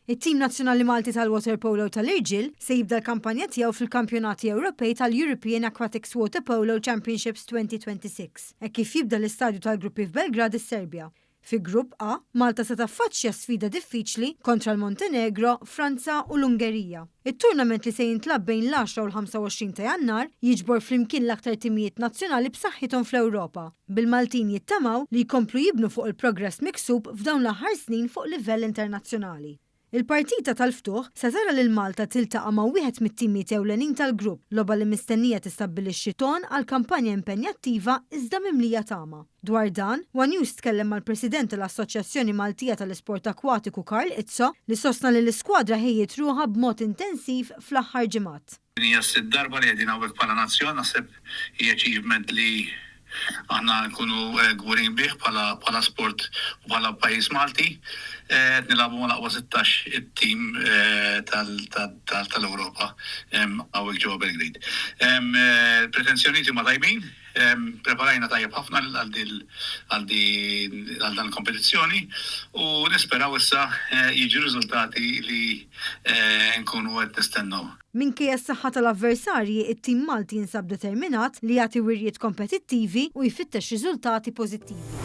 It-tim nazzjonali Malti tal-waterpolo tal-irġiel se jibda l-kampanja tiegħu fil-Kampjonati Ewropej tal-European Aquatics Waterpolo Championships 2026 hekk kif jibda l-istadju tal-gruppi f'Belgrad is-Serbja. Fi Grupp A, Malta se taffaċċja sfida diffiċli kontra l-Montenegro, Franza u l-Ungerija. It-tournament li se jintlagħab bejn l-10 u l-25 ta' Jannar jiġbor flimkien l-aktar timijiet nazzjonali b'saħħithom fl-Ewropa. bil-Maltin jittamaw li jkomplu jibnu fuq il-progress miksub f'dawn l-aħħar snin fuq livell internazzjonali. Il-partita tal-ftuħ se tara lil Malta tiltaqa' ma' wieħed mit-timiet ewlenin tal-grupp, logħba li mistennija tistabbilixxi ton għal kampanja impenjattiva iżda mimlija tama. Dwar dan, one News tkellem mal-President tal-Assoċjazzjoni Maltija tal-Isport Akwatiku Karl Izzo li sostna li l-iskwadra ħejjiet ruħha b'mod intensiv fl-aħħar ġimgħat. Din hija s-sitt darba li qegħdin hawnhekk bħala nazzjon, naħseb hija achievement li aħna nkunu kburin bih bħala sport u bħala pajjiż Malti. Qed nilagħbu mal-aqwa sittax it-tim tal-Ewropa hawnhekk ġewwa Belgrade. Il-pretensjonijiet huma tajbin. Ppreparajna tajjeb ħafna għal din għal din għal dan il-kompetizzjoni u nisperaw issa jiġu r-riżultati li nkunu qed nistennew. Minkejja s-saħħa tal-avversarji, it-tim Malti jinsab determinat li jagħti wirjiet kompetittivi u jfittex riżultati pożittivi.